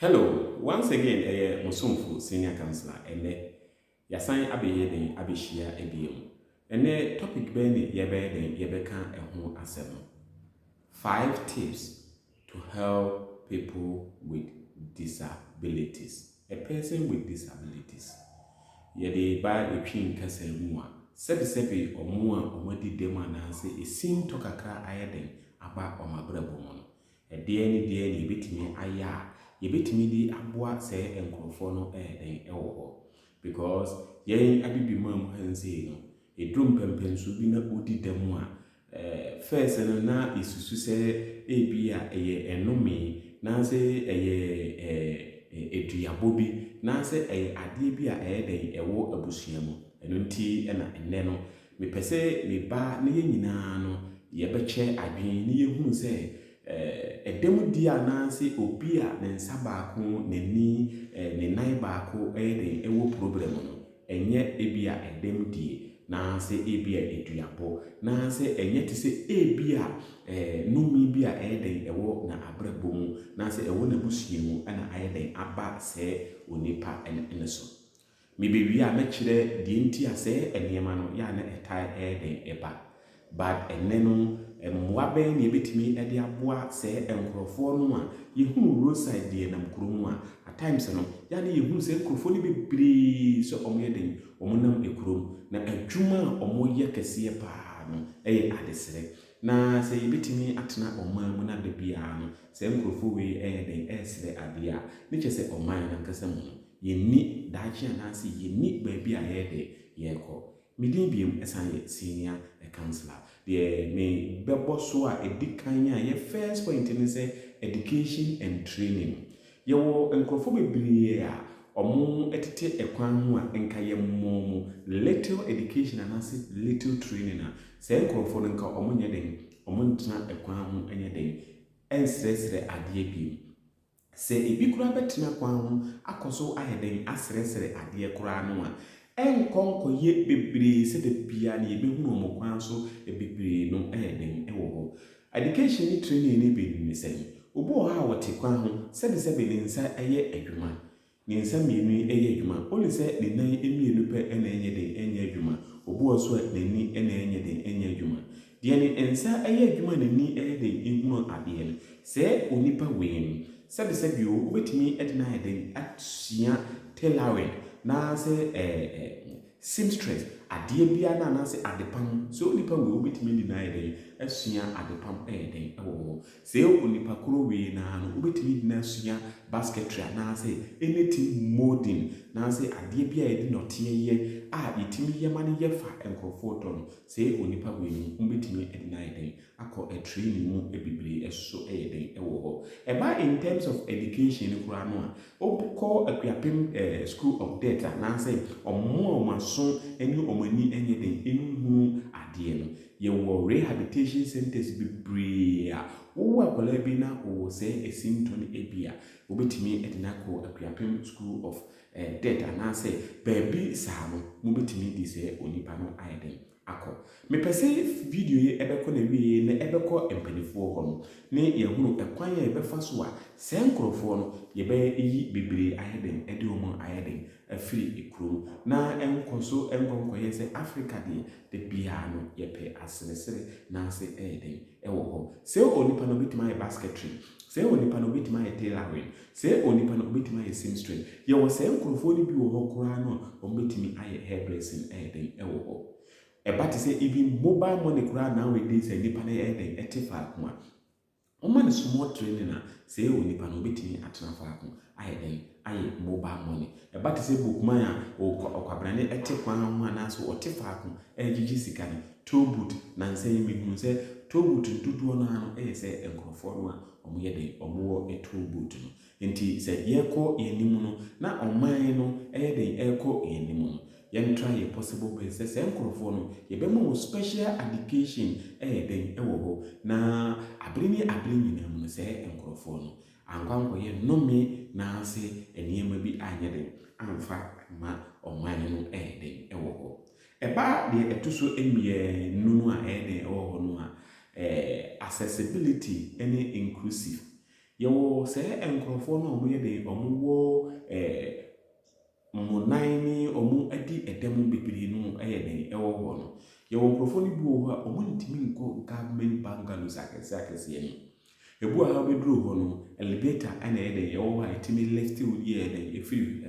Hello once again ɛyɛ mo somfo senior councilor ɛnɛ yasan abɛyɛ dɛn abɛhyia biom ɛnɛ topic bɛn ne yɛbɛyɛ dɛn yɛbɛka ɛho asɛm no five tips to help people with disabilities a person with disabilities yɛde ba ɛtwi nkasa mu a sɛbi sɛbi ɔmo a ɔmo adi dɛm anaasɛ ɛsin tɔ kakra ayɛ dɛn aba ɔmo abrabɔ mu no Ɛdeɛn ne deɛn na yɛbɛtumi ayɛ a yɛbɛtumi de aboa saa nkorɔfoɔ no ɛyɛ dɛn ɛwɔ hɔ? Because yɛn Abibiman mu ha nsei no, ɛduru mpɛmpɛnsoɔ bi na wodi dɛm a, first no na yɛsusu sɛ ebia ɛyɛ ɛnome anaasɛ ɛyɛ aduabɔ bi anaasɛ ɛyɛ adeɛ bi a ɛyɛ dɛn ɛwɔ abusua mu. Ɛno nti na ɛnnɛ no Mepɛ sɛ me ba ne yɛn nyinaa no yɛbɛkyɛ adwene na yɛhunu sɛ ɛda mu di anaasɛ obi a ne nsa baako n'ani, ne nan baako yɛ den wɔ probrɛm no, ɛnyɛ ebia ɛdam die, naasɛ ebia aduabɔ, naasɛ ɛnyɛ te sɛ ebia nome bi a ɛyɛ den wɔ n'abrabɔ mu, naasɛ ɛwɔ n'abusua mu na ayɛ den aba sɛɛ onipa no so. Mebewie a mɛkyerɛ deɛ nti a sɛɛ ɛnneɛma no yɛ a na ɛtae ɛyɛ dɛn ɛba. But ɛnnɛ no mmoa bɛn na yɛbɛtumi de aboa sɛɛ nkorɔfoɔ no a yɛhunu road side deɛ nam kuro mu a at times no yɛ a na yɛhunu sɛ nkorɔfoɔ no bebree sɛ wɔn yɛ dɛn wɔn nam kuro mu na adwuma a wɔn yɛ kɛseɛ paa no ɛyɛ adesrɛ Na sɛ yebetumi atena ɔman mu na da biara no saa nkurɔfo wei yɛ dɛn resrɛ ade a, ne kyerɛ sɛ ɔman no ankasa mu no, yenni daakye anaase yenni baabi a yɛyɛ dɛn yɛrekɔ. Me din biom san yɛ Senior Councillor. Deɛ me bɛbɔ so a ɛdi kan a yɛ first point ne sɛ Education and Training. Yɛwɔ nkurɔfoɔ bebree a wɔtete kwan ho a nka yɛmmɔ wɔn little education anaase little training a, saa nkurɔfoɔ no nka wɔnyɛ dɛn? Wɔntena kwan ho nyɛ dɛn? Nsrɛsrɛ adeɛ bio. Sɛ bi koraa bɛtena kwan ho akɔ so ayɛ dɛn? Asrɛsrɛ adeɛ koraa no a, ɛnkɔ nkɔyɛ bebree sɛ da biara no yɛbɛhunu wɔn kwan so bebree no yɛ dɛn wɔ hɔ? Education ne training ne bi ne sɛn? Obi wɔ hɔ a ɔte kwan ho, sɛbesɛbe ne nsa yɛ adwuma, ne nsa mmienu yi yɛ adwuma, only sɛ ne nan mmienu pɛ na ɛnyɛ den nyɛ adwuma, obi wɔ so a n'ani na ɛnyɛ den nyɛ adwuma. Deɛ ne nsa yɛ adwuma a n'ani yɛ den hunu adeɛ no, sɛɛ onipa wei no, sɛbesɛbe o, wobɛtumi de no ayɛ den asua tailoring, anaasɛ ɛɛ. Seamstress, adeɛ biara no anaasɛ adepam, sɛ onipa wei wobɛtumi adi no ayɛ dɛn asua adepam ayɛ dɛn wɔ hɔ. Sɛ onipa koro wei no ara no wobɛtumi adi no asua basketry anaasɛ anything moulding anaasɛ adeɛ bi a yɛde nɔteɛ yɛ a yɛtumi yɛ ma no yɛ fa nkorɔfoɔ tɔ no, sɛ onipa wei no wobɛtumi adi no ayɛ dɛn akɔ ɛtraining mu bebree ɛsoso ɛyɛ den ɛwɔ hɔ ɛba in terms of education no koraa no a wokɔ akuapem ɛɛ school of death anaasɛ ɔmo a ɔmo aso ɛne ɔmo ani ɛnyɛ den ɛnhunu adeɛ no yɛwɔ rehabilitation centers bebree a wowo akwadaa bi na ɔwɔ sɛɛ ɛsintɔ no ɛbi a wobɛtumi ɛde no akɔ akuapem school of ɛɛ death anaasɛ baabi saa no mobɛtumi de sɛɛ onipa no ayɛ den akɔ. Mepɛ sɛ video yi bɛkɔ n'awieɛ na ɛbɛkɔ mpaninfoɔ hɔ no ne yɛahunu ɛkwan a yɛbɛfa so a saa nkorɔfoɔ no yɛbɛyi bebree ayɛ dɛn de wɔn ayɛ dɛn afiri kuro mu na ɛnkɔ so nkɔ nkɔyɛ sɛ Africa deɛ da biara no yɛpɛ aseresere na ase ɛyɛ dɛn ɛwɔ hɔ. Sɛ onipa no ɔbɛtumi ayɛ basketry, sɛ onipa no ɔbɛtumi ayɛ tailoring, Sɛɛ onipa no ɔbɛtumi ayɛ seamstress. Yɛwɔ saa nkorɔfoɔ no bi wɔ hɔ koraa no a wɔbɛtumi ayɛ hairdressing ɛyɛ dɛn ɛwɔ hɔ. Ɛba te sɛ even mobile money koraa nowadays a nipa no ɛyɛ dɛn ɛte faako a wɔma no small training a sɛɛ onipa no ɔbɛtumi atena faako ayɛ dɛn ayɛ mobile money. Ɛba te sɛ bookman a ɔkwabrane ɛte kwan ho anaasɛ ɔte faako ɛregyegye sika no toll booth nansa yi mehunuu sɛ toll booth no dodoɔ no ara no ɛyɛ sɛ nkorɔfoɔ no a Wɔyɛ dɛ, wɔwɔ tow boat no. Enti sɛ yɛkɔ yɛn anim no, na ɔman no yɛ dɛ rekɔ yɛn anim no, yɛntra yɛ possible bɛs sɛ saa nkurɔfoɔ no, yɛbɛma wɔn special education yɛ dɛ wɔ hɔ. Na abere ne abere nyinaa mu no, saa nkurɔfoɔ no, ankɔ ankɔyɛ nnome naase nneɛma bi anyɛ dɛ amfa amma ɔman no yɛ dɛ wɔ hɔ. Ɛbaa deɛ ɛto so mmienu no a ɛyɛ den ɛwɔ hɔ no a, ɛɛ accessibility ne inclusive. Yɛwɔ sɛɛ nkorɔfoɔ no a wɔn yɛ den, wɔn wɔ ɛɛ wɔn nan ne wɔn adi ɛdɛm bebree no ɛyɛ den ɛwɔ hɔ no. Yɛwɔ nkorɔfoɔ no bi wɔ hɔ a wɔn ntumi nkɔ government bungalows akɛseɛ akɛseɛ no mu. Ebu a wobeduru hɔ no, elevator na ɛyɛ dɛn, ɛwɔ hɔ a etumi lifte wo yɛ dɛn, efiri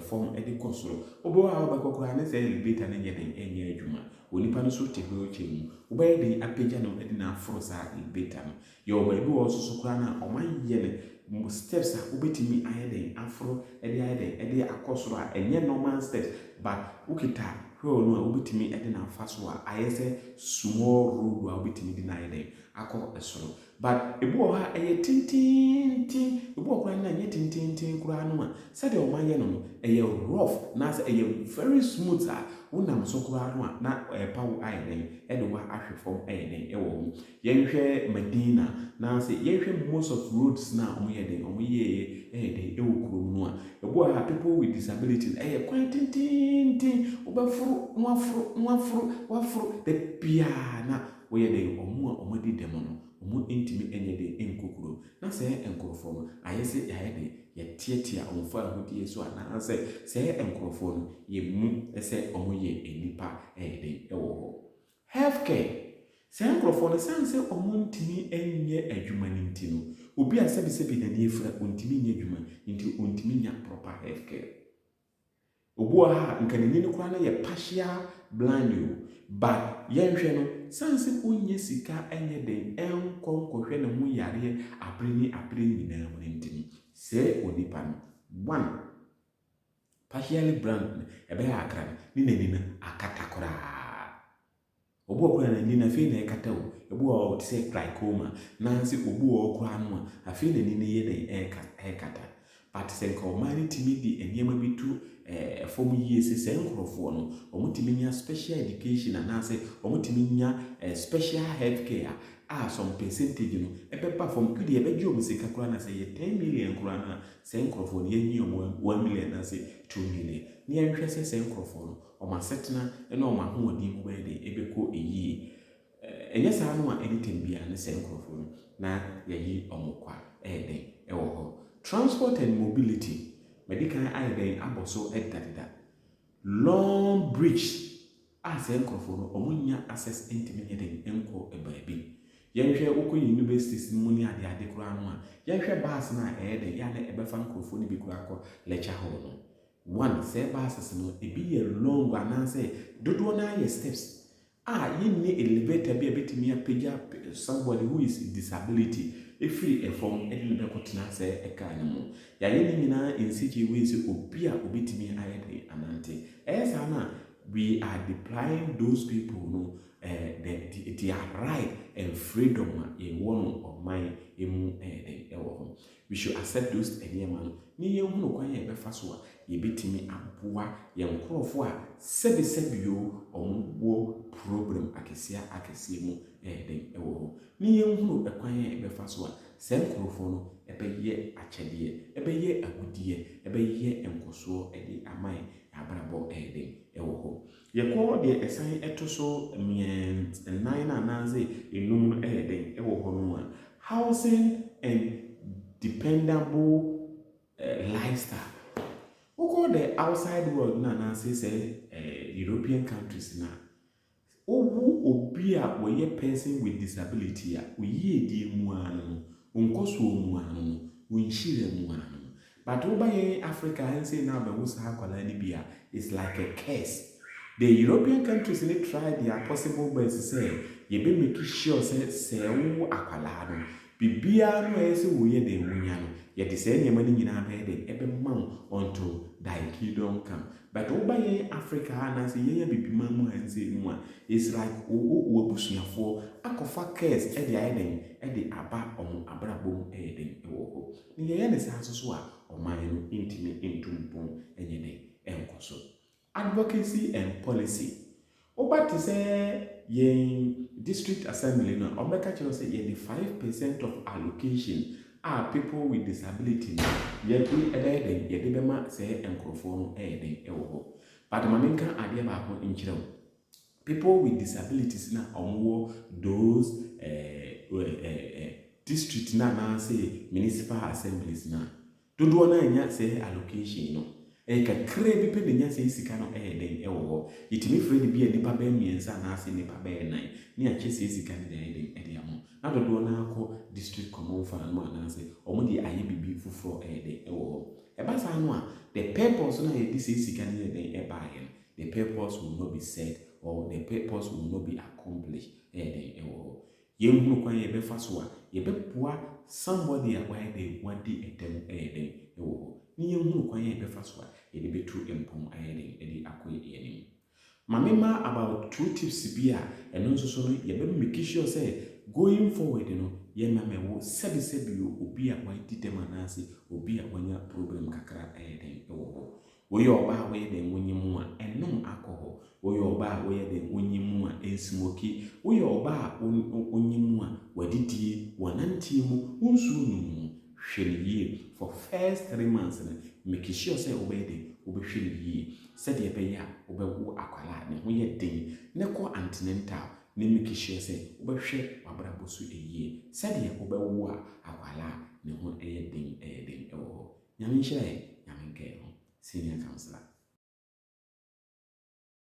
fam de kɔ soro. Wobɔ hɔ a wobɛkɔ koraa ne sɛ elevator no nyɛ dɛn, ɛnyɛ adwuma. Onipa no nso te wheelchair mu. Wobɛyɛ dɛn apagya no de no aforo saa elevator no. Yɛwɔ baabi wɔ hɔ nso so koraa no a, wɔayɛ no steps a wobetumi ayɛ dɛn, aforo de ayɛ dɛn, de akɔ soro a ɛnyɛ normal steps, but wokita wheel no a wobetumi de no afa so a ayɛ sɛ small road a wobetumi de no ayɛ dɛn, akɔ soro but ebi wɔ hɔ a ɛyɛ tententen ebi wɔ koraa no a ɛnyɛ tententen koraa no a sɛdeɛ wɔn ayɛ no no ɛyɛ rough anaasɛ ɛyɛ very smooth a wo nam so koraa no a na ɛrepa wo ayɛ dɛn ɛde wo ahwe fam ayɛ dɛn ɛwɔ ho yɛn hwɛ Medina na sɛ yɛn hwɛ most of roads na wɔn yɛ dɛn wɔn yɛ yɛ ɛyɛ dɛn ɛwɔ kurom no a ebi wɔ hɔ a people with disability ɛyɛ kwan tententen wobɛforo na waforo na waforo waforo da biara na Wɔyɛ dɛn? Wɔn a wɔadi dɛm no, wɔantumi anyɛ den ankɔ kurom. Ná saa nkurɔfoɔ no ayɛ sɛ yɛayɛ dɛn? Yɛteatea wɔn fawohodie so anaasɛ saa nkurɔfoɔ no yɛmmu sɛ wɔyɛ nnipa ɛyɛ den wɔ hɔ. Healthcare, Saa nkurɔfoɔ no, ɛsiane sɛ wɔntumi nyɛ adwuma no nti no, obi a sɛbesɛbe n'ani afira, ɔntumi nyɛ adwuma nti ɔntumi nya proper healthcare. Obi wɔ ha a nka n'ani no koraa no yɛ partial blind o, but yɛnhwɛ no, siane sɛ onnya sika nyɛ dɛn nkɔ nkɔhwɛ ne ho yareɛ abere ne abere nyinaa mu no nti no, sɛɛ onipa no, one, partially blind no ɛbɛyɛ akra no ne n'ani no akata koraa. Obi wɔ hɔ koraa a n'ani no afei na ɛrekata o. Ebi wɔ hɔ a ɔte sɛ trachoma, nanso obi wɔ hɔ koraa no a, afei na n'ani no reyɛ dɛn? Ɛrekata. But sɛ nka ɔman no tumi de nneɛma bi to eh, fam yie sɛ saa nkurɔfoɔ no, wɔtumi nya special education anaasɛ wɔtumi nya eh, special health care a, a some percentage no ɛbɛba fam. Ɛdeɛ ɛbɛgye wɔn sika koraa na sɛ yɛ 10 million koraa no a, saa nkurɔfoɔ no yɛnyi wɔn 1 million anaasɛ 2 million. Na yɛnhwɛ sɛ saa nkurɔfoɔ no, Wɔn asetena ne wɔn ahoɔden mu bɛyɛ dɛn? Ɛbɛkɔ yie. Ɛnyɛ saa no a, any time biara ne sɛ nkorɔfoɔ no na yɛayi wɔn kɔ a, ɛyɛ dɛn wɔ hɔ? Transport and mobility, madi kan ayɛ dɛn abɔ so deda deda. Long bridge a sɛ nkorɔfoɔ no wɔn nnya access ntumi nyɛ dɛn nkɔ baabi. Yɛnhwɛ wo kɔ universities no mu ne ade ade koraa no a, yɛnhwɛ bus no a ɛyɛ dɛn yɛ a na ɛbɛfa nkorɔfoɔ no bi koraa kɔ lecture hall no. One, Sɛ ɛba asase no, ebi yɛ long anaasɛ dodoɔ no ara yɛ steps a yɛnni elevator bi a ɛbɛtumi apagya somebody who is disability ɛfiri fam de no bɛkɔtena sɛ ɛkaa no mu. Yɛayɛ ne nyinaa in such a way sɛ obi a ɔbɛtumi ayɛ dɛn anante. Ɛyɛ saa no a, we are depriving those people no eh, the, the, their right and freedom a yɛwɔ no ɔman mu ɛyɛ dɛn ɛwɔ hɔ. We should accept those nneɛma no ne yɛnhunu kwan a yɛbɛfa so a yɛbɛtumi aboa yɛn nkorɔfoɔ a sɛbe sɛbe o wɔn wɔ problem akɛseɛ akɛseɛ mu ɛyɛ dɛn ɛwɔ hɔ ne yɛnhunu kwan a yɛbɛfa so a saa nkorɔfoɔ no ɛbɛyɛ akyɛdeɛ ɛbɛyɛ agudeɛ ɛbɛyɛ nkɔsoɔ ɛde ama yɛn yɛn abrabɔ ɛyɛ dɛn ɛwɔ hɔ Yɛkɔ deɛ ɛsan ɛto so mmiɛns nnan no anaase nnum no ɛyɛ dɛn ɛwɔ hɔ nom a, housing and dependable lifestyle. Wokɔ the outside world no anaase sɛ European countries no a, wowo obi a ɔyɛ person with disability a, oyiedie mu ara no no, onkɔsoɔ mu ara no no, onhyira mu ara no no. But woba yɛn Africa ha nsei na abɛwo saa akwadaa no bi a, it's like a curse. The European countries no try their possible best sɛ yɛbɛ make sure sɛ sɛ wowo akwadaa no, biribiara no a ɛyɛ sɛ woyɛ dɛn wonya no, yɛde saa nneɛma no nyinaa bɛyɛ dɛn, ɛbɛma wo unto thy kingdom come. But woba yɛn Africa ha anaasɛ yɛn Abibiman mu ha nsei no a, it's like wowo w'abusuafoɔ akɔfa curse de ayɛ dɛn, de aba wɔn abrabɔ mu ɛyɛ dɛn wɔ hɔ. Na yɛyɛ no saa nso so a, ɔman no ntumi ntu mpɔn nyɛ dɛn nkɔ so. Advocacy and Policy, Woba te sɛ yɛn District Assembly no a, wɔbɛka kyerɛ wo sɛ yɛde five percent of allocation a people with disability no yɛde bɛyɛ dɛn, yɛde bɛma saa nkurɔfoɔ no yɛ dɛn wɔ hɔ. But ma menka adeɛ baako nkyerɛ wo. People with disabilities no a wɔwɔ those eh eh eh district no anaasɛ municipal assemblies no a, dodoɔ no ara nnya saa allocation no. Ɛyɛ kakraa bi pɛ na ɛnya saa sika no ɛyɛ dɛn wɔ hɔ. Yɛtumi frɛ no ebia nnipa bɛyɛ mmiɛnsa anaasɛ nnipa bɛyɛ nnan ne akyɛ saa sika no de ayɛ dɛn de ama wɔn. Na dodoɔ no ara kɔ district common fund mu anaasɛ wɔde ayɛ biribi foforɔ ɛyɛ dɛn wɔ hɔ. Ɛba saa no a, the purpose no a yɛde saa sika no yɛɛ dɛn baeɛ no, The purpose will not be set or the purpose will not be accomplished ɛyɛ dɛn ɛwɔ hɔ? Yɛnhunu kwan a yɛbɛfa so a yɛbɛboa somebody a wayɛ dɛn wadi dɛm ɛyɛ dɛn ɛwɔ hɔ? Ne yɛnhunu kwan a yɛbɛfa so a yɛde bɛtu mpɔn ayɛ dɛn de akɔ yɛn anim. Ma me ma about two tips bi a ɛno nso so no yɛbɛ make sure sɛ going forward no yɛmmɛmɛ wo sɛbi sɛbi o obi a wadi dɛm anaase obi a wanya problem kakra ɛyɛ dɛn ɛwɔ hɔ? Woyɛ ɔbaa a woyɛ dɛn wonyi mu a, nnom alcohol. Woyɛ ɔbaa a woyɛ dɛn wonyi mu a, nsmoki. Woyɛ ɔbaa a wo wonyi mu a, w'adidie, w'ananteɛ mu, wo nsuo nom mu, hwɛ no yie. For first three months no, make sure sɛ wobɛyɛ dɛn, wobɛhwɛ no yie. Sɛdeɛ ɛbɛyɛ a wobɛwo akwadaa a ne ho yɛ den na kɔ antenatal na make sure sɛ wobɛhwɛ w'abrabɔ so yie. Sɛdeɛ wobɛwo a akwadaa a ne ho yɛ den yɛ den wɔ hɔ. Nyame nhyira yɛ, Nyame nka yɛn ho, Senior Councillor.